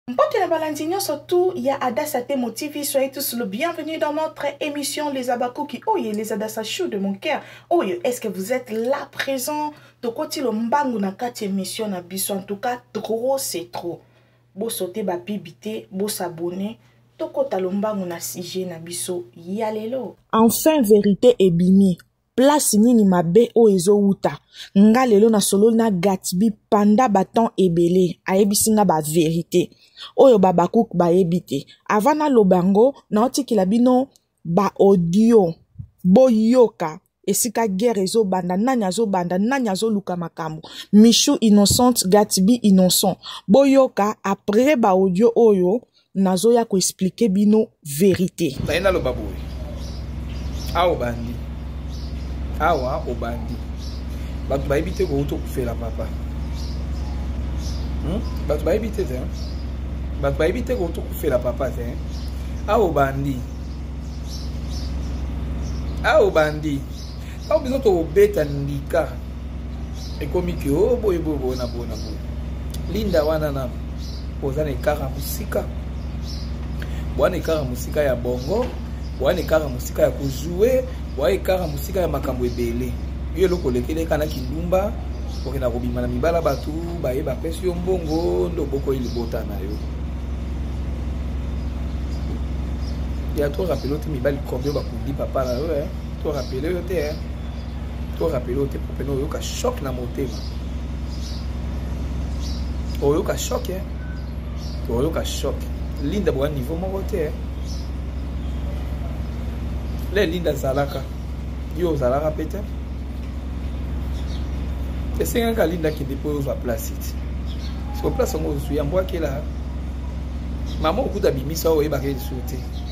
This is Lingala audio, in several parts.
Mbote na balandi nyonso tout ya Adassa Temo TV, soyez tous le bienvenue dans notre émission Les Abakuki. Oye, les Adassa Chou de mon cœur. Oye, est-ce que vous êtes là présent? Tokoti lo mbangu na kati émission na biso. En tout cas, trop c'est trop. Bo sauter ba pibité, bo s'abonner. Tokota lo mbangu na sujet na biso. Yalelo. Enfin vérité ebimi. place nini mabe oyo ezowuta nga lelo nasololi na gatbi panda batemp ebele ayebisi nga baverité oyo babakuk bayebi te ava naloba yango naotikela bino baaudio boyoka esika guerre ezobanda nani azobanda nani azoluka makambo michou innocente gatbi innocent boyoka après baaudio oyo nazoya koexplike bino verite naye naloba boye awa obandi awa obandi bato bayebi te kouta okufela papa hmm? bato bayebi te te bato bayebi te kouta okufela papa te awa obandi awa obandi Tango biso tokobeta ndika ekomi ke o oh, boye boye boye na boye na boye linda wana na oza na ekara mosika bwana ekara mosika ya bongo bwana ekara mosika ya kozue bwana ekara mosika ya makambo ebele yo eloko olekeleka na kindumba okenda kobima na mibala bato baye bapesi yo mbongo nde obokoyi libota na yo ya to rapelo te mibali combien bakundi papa na yo eh? To rappeler yo te hein. To rappeler yo te pour pena oyoka choc na motema. Oyoka choc hein. Oyoka choc. Linda boa niveau moko te hein. Le Linda azalaka. Yo ozalaka pe te. Esengaka Linda kende po ozwa place ti. Siko place yango ozwi yango akela. Mama okuta bimisa oyebaka lisusu te.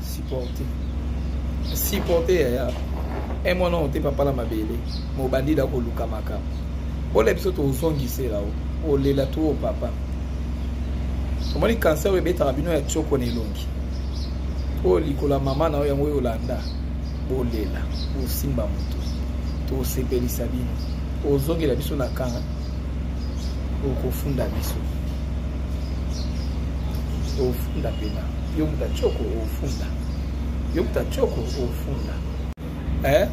supporte supporte yaya e mwana oyo te papala mabele mobandi da koluka makambo ola biso tozongisela o olela to o papa omoni cancer oyo ebetaka bino ya tioko na elongi oyo likolo ya mama na yo yango oyo olanda bolela bosimba moto tosepelisa bino ozongela biso na kanga okofunda biso ofunda mpena Yo muta tshoko ofunda. Yo muta tshoko ofunda. Eh?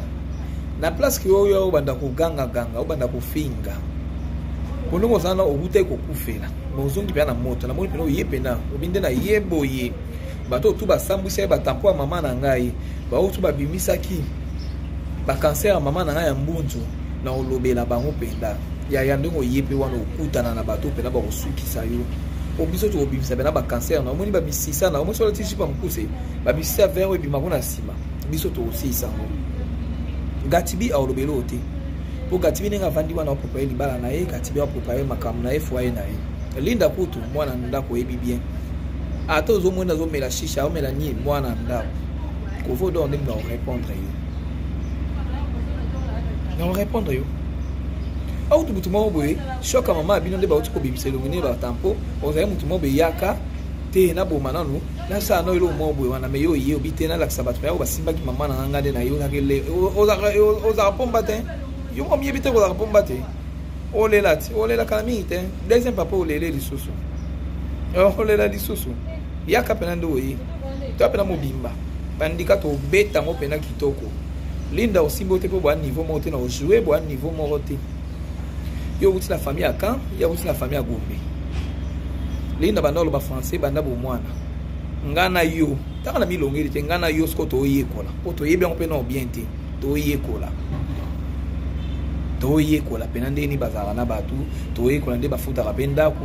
Na place que oyo obanda koganga ganga, obanda kofinga. Bolingo ozana okutai kokufela. Mais ozongi pena na moto. Na moni pena oye pena. Obinde na ye boye. Bato tout basambwisa ye batampo ya mama na ngai. Baoyo tout babimisaki ba cancer ya mama na ngai ya mbunzu. na olobela bango mpenza yaya ndenge oye mpe wana okutana na bato mpenza bakosukisa yo po biso tokobimisa mpena bacancer na omoni bamisisa na omoni soki olati jipa mokuse bamisisa vert oyo ebima kuna nsima biso tokosilisa yango gatibi aolobela oyo te mpo gatibi ndenge avandi wana apropaye libala na ye gatibi apropaye makambo na ye foye na ye linda kutu mwana ndako oyebi bien ata ozomoni azomela shisha aomela nini mwana ndako kovo dor nde na orépondre yo na orépondre yo autu motu moko boye shoka mama bino nde bauti kobimisa elongi nde batampo ozali motu moko beyaka te naboma nanu nasala no eloko moko boye wana me yo oye obi te nalakisa bato nayo basimbaki mama na nganga nde nayokaki le ozalaka pomba te yo moko miyebi te kozalaka pomba te olela te olelaka na mingi te deuxième papa olele lisusu olela lisusu yaka mpena nde oye toya mpena mobimba bandika tobeta yango mpena kitoko linda osimbi oyo te mpo boya niveau moko te na ojoue boya niveau moko te yo okuti na famille ya camp ye akuti na famille ya gombe linda banda oloba français banda bomwana ngai na yo ntaka na milongeli te ngai na yo soko toyekola mpo toyebi yango mpe nao bien te toyekola toyekola mpena ndenge nini bazalaka na bato toyekola nde bafutaka mpe ndako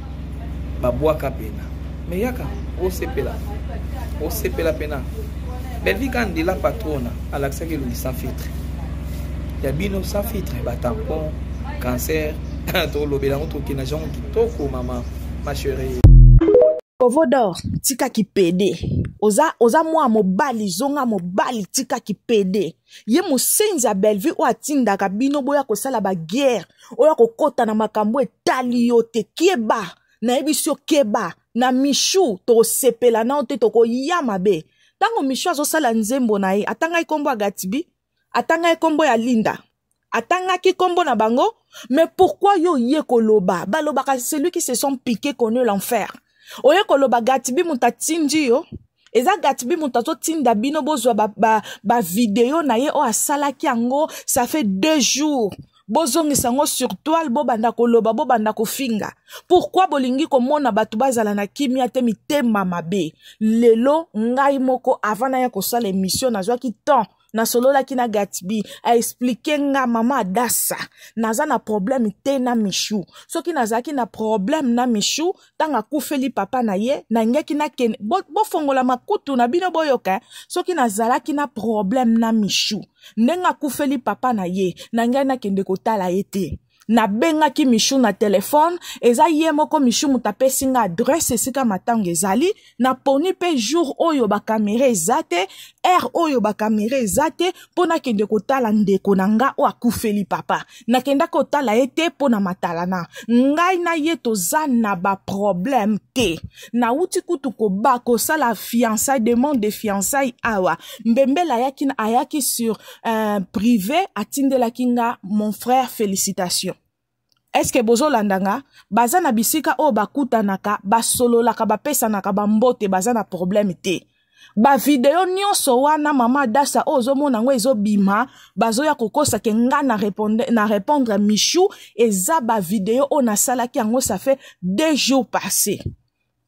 babwaka pena me yaka osepela osepela pena bellevie ka ndela patrona alakisaki elongi sans filtre ya bino sans filtre batampon cancer tolobela yango tokenda jango kitoko mama ma cherie kovo dor tika kipede oza, oza mwa mobali zonga mobali tika kipede ye mosenzi ya bellevue oyo atindaka bino boya kosala baguerre oya kokota na makambo etali yo te keba nayebisi yo keba na mishu tokosepela nao te tokoya mabe ntango mishu azosala nzembo na ye atangaki nkombo ya gatibi atangaki nkombo ya linda atangaki nkombo na bango mais pourquoi yo oye koloba balobaka celui qui se sont piqué connu l'enfer oye koloba gatibi moto atindi yo eza gatibi moto azotinda bino bozwa bavideo ba, ba na ye oyo asalaki yango ça fait deux jours bozongisa yango sur toile bobanda koloba bobanda kofinga pourkui bolingi komona bato bazala na kimia te mitema mabe lelo ngai moko avant naya kosala emission nazwaki temps nasololaki na gatbi aexplike nga mama adasa naza na problème te na michou soki nazalaki na problème na michou ntango akufeli papa na ye nangeki nakende bofongola bo makutu na bino boyoka soki nazalaki na problème na michou ndenge akufeli papa na ye nangai nakende kotala ye te nabengaki michou na telefone eza ye moko michou moto apesi nga adresse esika matango ezali naponi mpe jour oyo bakamera eza te heure oyo bakamera eza te mpo nakende kotala ndeko na nga oyo akufeli papa nakendaki kotala ye te mpo na matalana ngai na ye toza na baproblème te nauti kutu koba kosala fiançai demande de fiançai awa mbembele ayaki, ayaki sur uh, prive atindelaki nga mon frère félicitation eske bozolanda nga baza na bisika oyo bakutanaka basololaka bapesanaka bambote baza na problème te bavideo nyonso wana mama dasa oyo ozomona yango ezobima bazoya kokosa ke nga na repondre, na repondre michou eza bavideo oyo nasalaki yango ça fait deux jours passé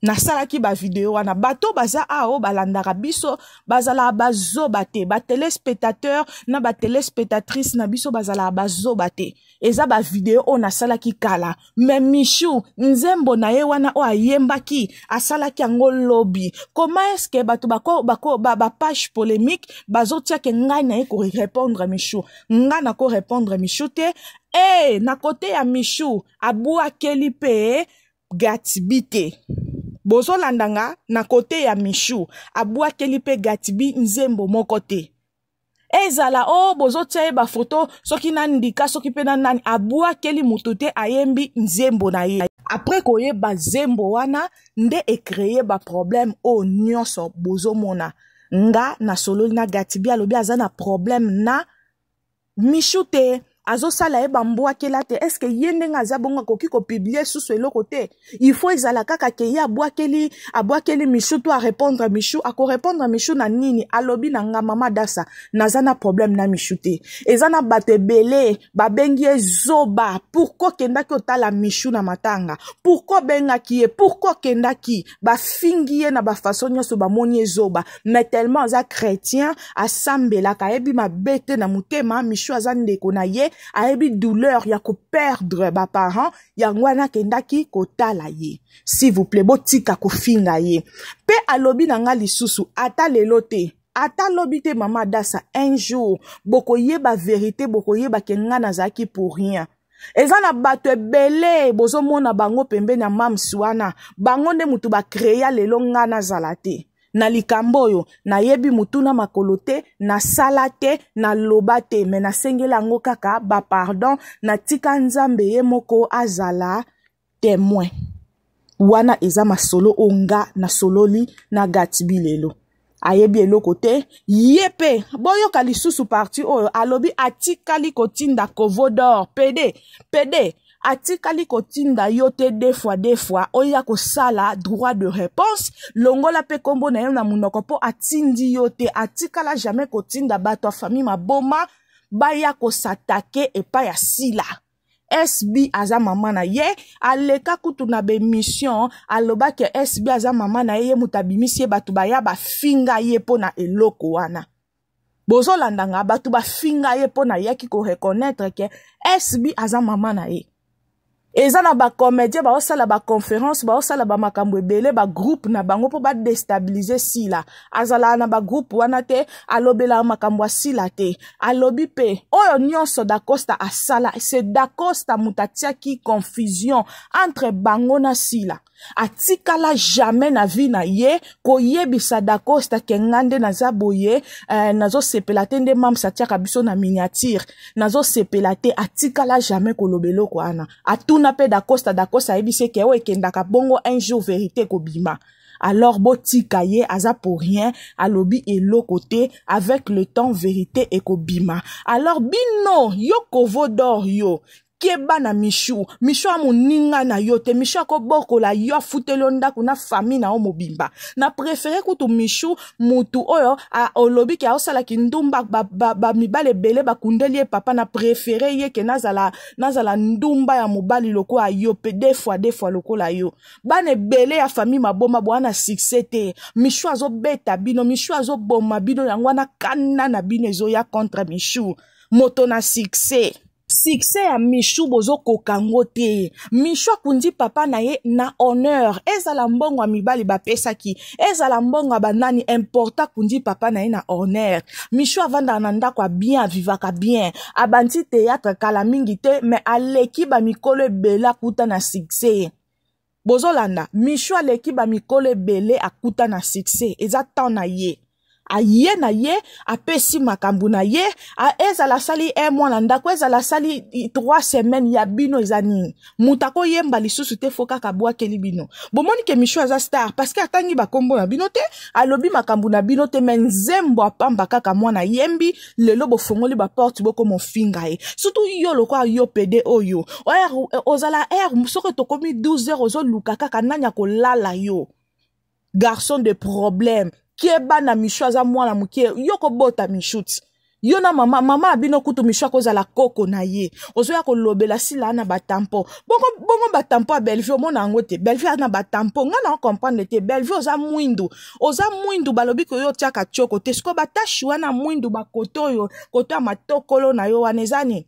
nasalaki bavideo wana bato baza awa oyo balandaka biso bazalaka bazoba te batelespectateur na batelespectatrice na biso bazalaka bazoba te eza bavideo oyo nasalaki kala me michou nzembo na ye wana oyo ayembaki asalaki yango lobi koma eske bato bapage bako, ba, ba polemique bazotiake ngai na ye korepondre michou ngai nakorepondre michou te e na kote ya michou abwakeli mpe gatibi te bozolanda nga na kote ya michou abwakeli mpe gatibi nzembo moko te ezala o oh, bozotya ye bafoto soki na ndika soki mpe na nani abwakeli motu te ayembi nzembo na ye apres koyeba zembo wana nde ekreye baproblème oyo oh, nyonso bozomona nga nasololi na gatibi alobi aza na problème na michou te azosala ye bambwakela te est ce que ye ndenge aza bongo akoki kopiblie susu eloko te il faut ezala kaka ke ye abwakeli abwakeli michou to arépondre michou akorépondre michou na nini alobi na nga mama dasa naza na problème na michou te eza na bato ebele babengi ye zoba pourkui okendaki otala michou na matanga pourkui obengaki ye pourkui okendaki bafingi ye na bafaso nyonso bamoni ye zoba mais tellement aza chrétien asambelaka ayebi mabe te na motema michu aza ndeko na ye ayebi douleur ya koperdre baparent yango wana akendaki kotala ye s'il vous plaît botika kofinga ye mpe alobi na ngai lisusu ata lelo te ata lobi te mama dasa un jour bokoyeba verité bokoyeba ke ngai nazalaki pour rien eza na bato ebele bozomona bango pembeni ya mams wana bango nde motu bakrea lelo ngai nazala te na likambo oyo nayebi motuna makolo te nasala te naloba te me nasengeli yango kaka bapardon natika nzambe ye moko azala temoin wana eza masolo oyo nga nasololi na gatibi lelo ayebi eloko te ye mpe boyoka lisusu parti oyo alobi atikali kotinda covodor pede pede atikali kotinda yo te deux fois deux fois oya kosala droit de réponse longola mpe nkombo na yo na monoko mpo atindi yo te atikala jamais kotinda bato ya famille maboma baya kosatake epai ya sila SB aza mama na ye aleka kutu na bemission alobaki SB aza mama na ye ye moto abimisi ye bato baya bafinga ye mpo na eloko wana bozolanda nga bato bafinga ye mpo nayaki koreconnaitre ke SB aza mama na ye eza na bacomédien baosala baconférence baosala bamakambo ebele bagroupe na bango mpo badestabilize sila azala na bagroupe wana te alobela makambo asila te alobi mpe oyo nyonso dacosta asala se dacosta moto atiaki confusion entre bango na sila atikala jamais na vie na ye koyebisa dacosta ke nga nde naza boye eh, nazosepela te nde mams atiaka biso na miniature nazosepela te atikala jamais koloba eloko wana atuna mpe dacosta dacosta ayebisi eke oyo ekendaka bongo un jour verité kobima alors botika ye aza pour rien alobi eloko te avec le temps verité ekobima alors bino yo kovo dor yo keba na mishu mishu amoninga na yo te mishu akobokola yo afuteli yo ndako na famille na yo mobimba na prefere kutu mishu mutu oyo olobi ke aosala kindumba bamibali ba, ba ebele bakundeli ye papa na prefere ye ke nazala, nazala ndumba ya mobali lokola yo mpe de fois de fois lokola yo bana ebele ya famille maboma boa na succès te michou azobeta bino michou azoboma bino yango wana kana na bino ezoya contre michou moto na succès succès ya michou bozokoka yango te michou akundi papa na ye na honneur ezala mbongo ya mibali bapesaki ezala mbongo ya banani importa kundi papa na ye na orner michou avandaka na ndako ya bien avivaka bien abandi théâtre kala mingi te mais aleki bamikolo ebele akuta na succès bozolanda michou aleki bamikolo ebele akuta na succès eza temps na ye aye na ye apesi makambo na ye ezala asali un mois na ndako ezala asali trois semaines ya bino eza nini moto akoyemba lisusu te fo kaka abwakeli bino bomoni ke michou aza star parce que atangi bakombo na bino te alobi makambo na bino te me nzembo apamba kaka mwana yembi lelo bofongoli baporte bokoma ofinga ye surtout yo lokola yo pede oyo ozala r soki tokomi 12 heures ozoluka kaka nani akolala yo garçon de problème keba na michou aza mwana moke yo kobota michou ti yo na mama mama abino kutu michou akozala koko na ye ozoya kolobela sila na batampo bongo, bongo batampo ya bellevue omona yango te bellevue ana batampo ngai na ocomprendre te bellevue oza mwindu oza mwindu balobi koyo otiaka tioko te sikoyo batashi wana mwindu bakoto oyo koto ya matokolo na yo wana eza nini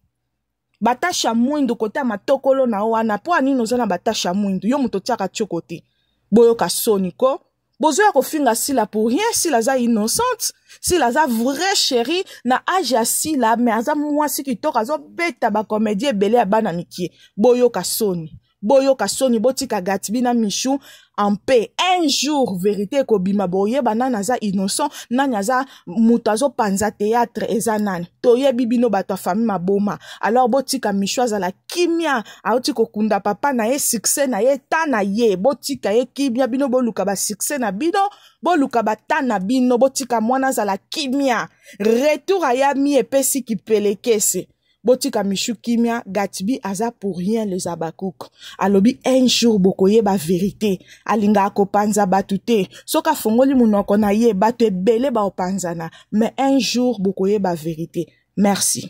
batashe ya mwindu kote ya matokolo na yo wana mpo ya nini oza na batashe ya mwindu yo moto otyaka tioko te boyoka soni ko bozoya kofinga sila pour rien sila aza innocente sila aza vrai chéri na age ya sila mais aza mwasi kitoko azobeta bacomédie ebele ya bana mikie boyoka soni boyoka soni botika gatibi na michou en paix un jour verité ekobima boyeba nani aza innocent nani aza moto azopanza théâtre eza nani toyebi bino bato ya famille maboma alors botika michou azala kimia auti kokunda papa na ye succès na ye ta na ye botika ye kimia bino boluka basuccès na bino boluka bata na bino botika mwana azala kimia retour ayami epesi kipelekese botika michu kimia gatbi aza pour rien les abakouk alobi un jour bokoyeba verité alingaka kopanza bato te soki afongoli monoko na ye bato ebele baopanzana mais un jour bokoyeba verité merci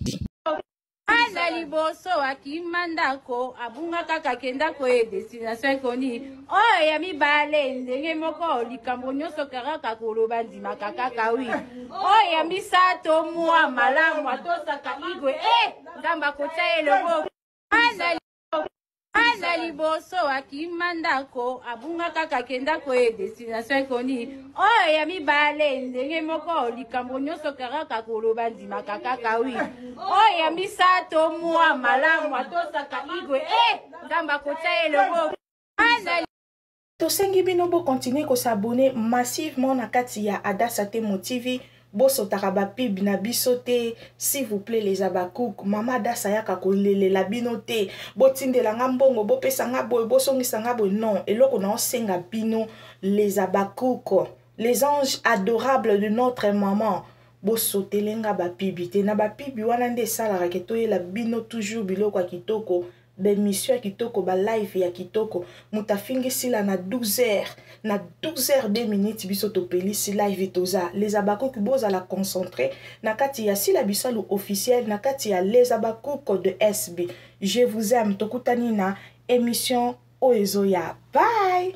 aza liboso akima ndako abunga kaka kenda koye destination ekoni oyo oh, ya mibale ndenge moko likambo nyonso karaka koloba ndimaka kaka wi oyo oh, ya misato mwa malamu atosaka igwe e eh, nzambe akotya ye loboko aza liboso akima ndako abunga kaka akenda koye destination ekoni oyo ya mibale ndenge moko likambo nyonso karaka koloba ndimaka kaka wi oyo ya misato mwa malamu atosaka igwe e eh, nzambe akotya ye loboko tosengi bino bo continuer ko s'abonner massivement na kati ya adasa temo tv bosotaka bapib na biso te s'il vous plaît les abacouk mama adasa ayaka kolelela bino te botindela nga mbongo bopesa nga boye bosongisa nga boye non eloko na osenga bino les abacouk les anges adorables de notre maman bosotele nga bapibi te na bapibi wana nde esalaka ke toyela bino toujours biloko ya kitoko ba emission ya kitoko ba live ya kitoko moto afingi sila na 12 heures na 12 heures 2 minutes biso topelisi live toza les abakuki bozala concentre na kati ya sila bisalu officiel na kati ya les abakuki de sb je vous aime tokutani na emission oyo ezoya bye